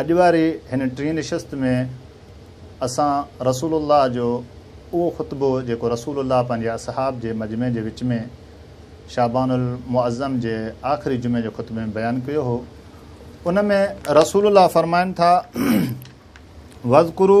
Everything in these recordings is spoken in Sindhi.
اڄ واري هن ٽين نشست ۾ اسان رسول الله جو اهو خطبو جيڪو رسول الله پنهنجي اصحاب جي مجمع جي وچ ۾ شعبان المعظم جي آخري جمعي جي خطبي ۾ بيان ڪيو هو ان ۾ رسول الله فرمائن ٿا وذڪرو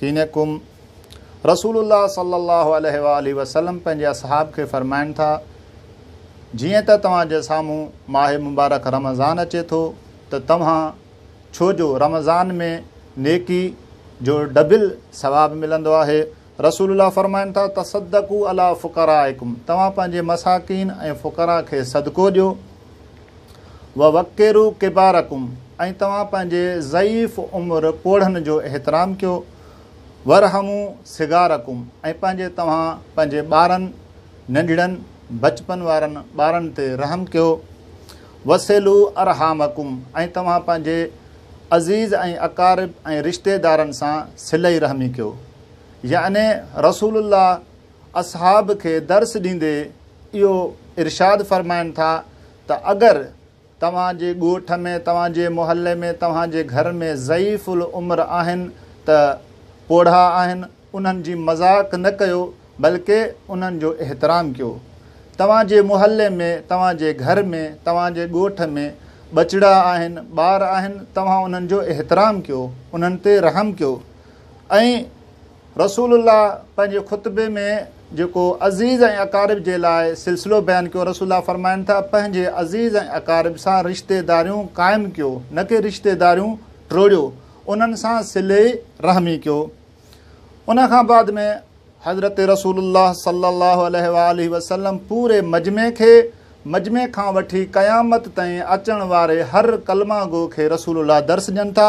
ڪينڪم، رسول الله صلي الله عليه واٰله وسلم پنهنجي اصحاب کي فرمائن ٿا، جيئن ته توهان جي سامهون ماه مبارڪ رمضان اچي ٿو ته توهان ڇو جو رمضان ۾ نيڪي جو ڊبل ثواب ملندو آهي، رسول الله فرمائن ٿا، تصدقوا علي فقرائڪم، توهان پنهنجي مساڪين ۽ فقراء کي صدقو ڏيو. ووقرو ڪبارڪم ۽ توهان پنهنجي ضعيف عمر پوڙهن جو احترام ڪيو ورحمو صغارڪم ۽ پنهنجي توهان پنهنجي ٻارن ننڍڙن بچپن وارن ٻارن تي رحم ڪيو وسيلو ارحامڪم ۽ توهان پنهنجي عزيز ۽ اقارب ۽ رشتيدارن سان صلي رحمي ڪيو يعني رسول الله اصحاب کي درس ڏيندي اهو ارشاد فرمائن ٿا ته اگر توهان جي ڳوٺ ۾ توهان جي محلي ۾ توهان جي گهر ۾ ضعيف العمر آهن ته پوڙها آهن انهن جي مذاق نه ڪيو بلڪه انهن جو احترام ڪيو توهان جي محلي ۾ توهان جي گهر ۾ توهان جي ڳوٺ ۾ ٻچڙا آهن ٻار آهن توهان انهن جو احترام ڪيو انهن تي رحم ڪيو ۽ رسول الله پنهنجي خطبي ۾ جيڪو عزيز ۽ اقارب جي لاء سلسلو بيان ڪيو رسول الله فرمائن ٿا پنهنجي عزيز ۽ اقارب سان رشتيداريون قائم ڪيو نه ڪي رشتيداريون ٽوڙيو انهن سان صلي رحمي ڪيو ان کان بعد ۾ حضرت رسول الله صلي الله عليه واله وسلم پوري مجمع کي مجمع کان وٺي قيامت تائين اچڻ واري هر ڪلمه گو کي رسول الله درس ڏين ٿا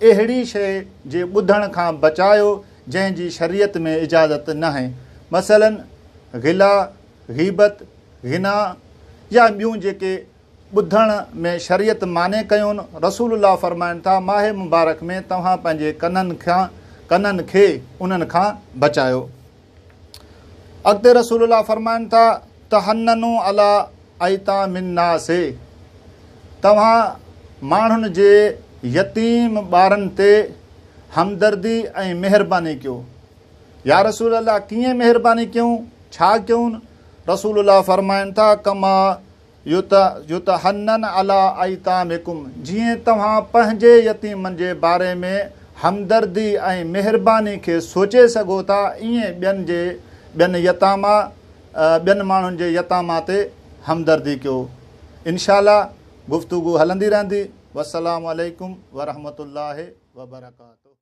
اهڙي شيء جي ٻڌڻ کان بچايو جنهن جي شريعت ۾ اجازت ناهي، مثلاً غلا، غيبت، غنا يا ٻيون جيڪي ٻڌڻ ۾ شريعت مانع ڪيون، رسول الله فرمائن ٿا، ماهه مبارڪ ۾ توهان پنهنجي ڪنن کي انهن کان بچايو. اڳتي رسول الله فرمائن ٿا تحننو علا ايتام الناس توهان ماڻهن جي يتيم ٻارن تي همدردي ۽ مهرباني ڪيو يا رسول الله ڪيئن مهرباني ڪيون ڇا ڪيون رسول الله فرمائن ٿا ڪما يتحنن علي ايتامڪم، جيئن توهان پنهنجي يتيمن جي باري ۾ همدردي ۽ مهرباني کي سوچي سگهو ٿا، ائين ٻين جي ٻين يتاما ٻين ماڻهن جي يتاما تي همدردي ڪيو. انشاء الله گفتگو هلندي رهندي. والسلام عليڪم ورحمة الله وبرڪاته.